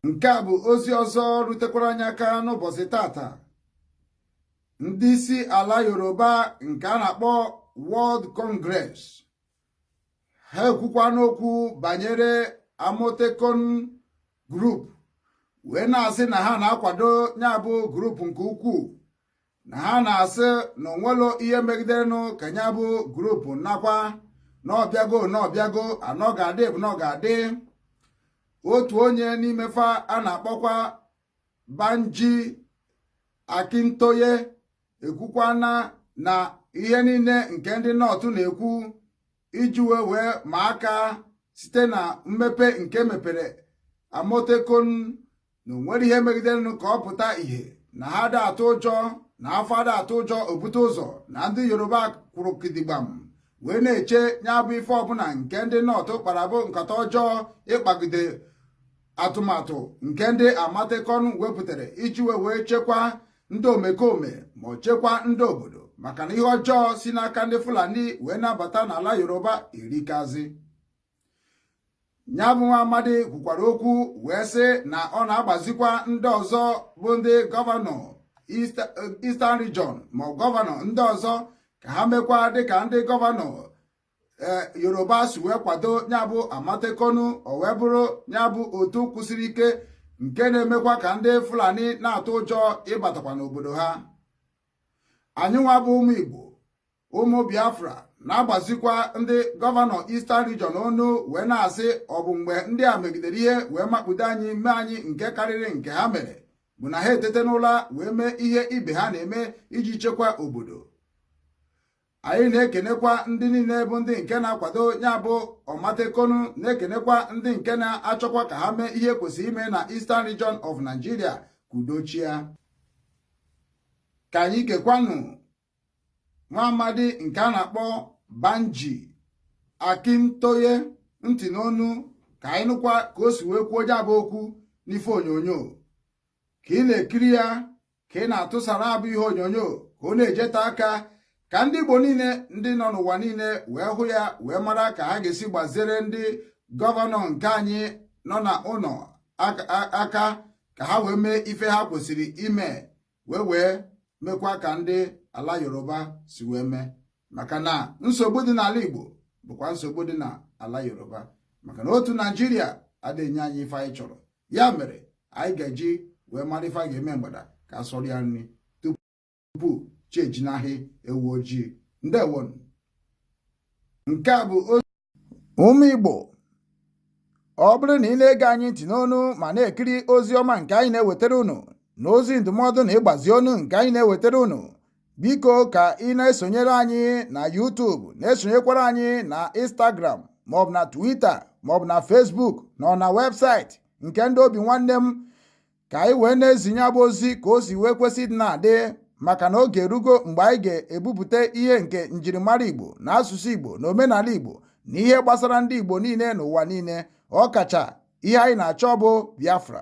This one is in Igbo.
nke a bụ ozi ọzọ rutekwara anyị aka n'ụbọchị taata ndị isi ala yoruba nke a na-akpọ World Congress ha ekwukwana okwu banyere Amotekun group wee na-asị na ha na-akwado ya bụ group nke ukwuu na ha na-asị na o nwerọ ihe megiderenụ ka ya bụ group nakwa na ọ bịago na ọ bịago na ọ ga-adị bụ na ọ ga-adị otu onye n'ime fa a na-akpọkwa Banji Akintoye ekwukwana na ihe niile nke ndị North na-ekwu iji wee wee ma aka site na mmepe nke mepere Amotekun na o nwere ihe megiderenụ ka ọ pụta ìhè na ha ada atụ ụjọ na afọ ada atụ ụjọ o bute ụzọ na ndị yoruba kwụrụ kidigbam wee na-eche ya bụ ife ọbụla nke ndị North kpara bụ nkata ọjọọ ịkpagide atụmatụ nke ndị Amotekun wepụtara iji wee wee chekwa ndị omekome ma ọ chekwa ndị obodo maka na ihe ọjọọ si n'aka ndị fulani wee na-abata n'ala yoruba erikazi ya bụ nwa amadi kwukwara okwu wee sị na ọ na-agbazikwa ndị ọzọ bụ ndị gọvanọ Eastern Region ma gọvanọ ndị ọzọ ka ha mekwa dịka ndị gọvanọ e, Yoruba si wee kwado ya bụ Amotekun o wee bụrụ ya bụ otu kwụsiri ike nke na-emekwa ka ndị Fulani na-atụ ụjọ ịbatakwa n'obodo ha anyị nwa bụ ụmụ Igbo ụmụ biafra na-agbazikwa ndị gọvanọ Eastern Region ọnụ wee na-asị ọ bụ mgbe ndị a megidere ihe wee makpudo anyị mee anyị nke karịrị nke ha mere bụ na ha etete n'ụla wee mee ihe ibe ha na-eme iji chekwa obodo anyị na-ekenekwa ndị niile bụ ndị nke na-akwado ya bụ Amotekun na-ekenekwa ndị nke na-achọkwa ka ha mee ihe kwesịrị ime na Eastern Region of Nigeria ka udo chịa ka anyị gekwanụ nwa amadi nke a na-akpọ Banji Akintoye ntị n'ọnụ ka anyị nụkwa ka o si wee kwuo ya bụ okwu n'ife onyonyo ka ị na-ekiri ya ka ị na-atụsa ya bụ ihe onyonyo ka ọ na-ejeta aka ka ndị Igbo niile ndị nọ n'ụwa niile wee hụ ya wee mara ka ha ga-esi gbazere ndị gọvanọ nke anyị nọ na ụlọ aka ka ha wee mee ife ha kwesịrị ime wee wee mekwa ka ndị ala yoruba si wee mee maka na nsogbu dị n'ala igbo bụkwa nsogbu dị n'ala yoruba maka na otu naijiria adịghị enye anyị ife anyị chọrọ ya mere anyị ga-eji wee mara ife a ga-eme mgbada ka a sọrọ ya nri tupu chi ejinahị ewu ojii ndewonụ nke a bụ Ụmụ Igbo ọ bụrụ na ị na-ege anyị ntị n'onu ma na-ekiri ozi ọma nke anyị na-ewetara unu na ozi ndụmọdụ na ịgbazi ọnụ nke anyị na-ewetara unu biko ka ị na-esonyere anyị na YouTube na-esonyekwara anyị na Instagram maọbụ na Twitter maọbụ na Facebook na na webụsaịtị nke ndị obi nwanne m ka anyị wee na-ezinye ya bụ ozi ka o si wee kwesị ịna-adị maka na oge erugo mgbe anyị ga-ebupụta ihe nke njirimara Igbo na asụsụ Igbo na omenala Igbo na ihe gbasara ndị Igbo niile n'ụwa niile ọkacha ihe anyị na-achọ bụ Biafra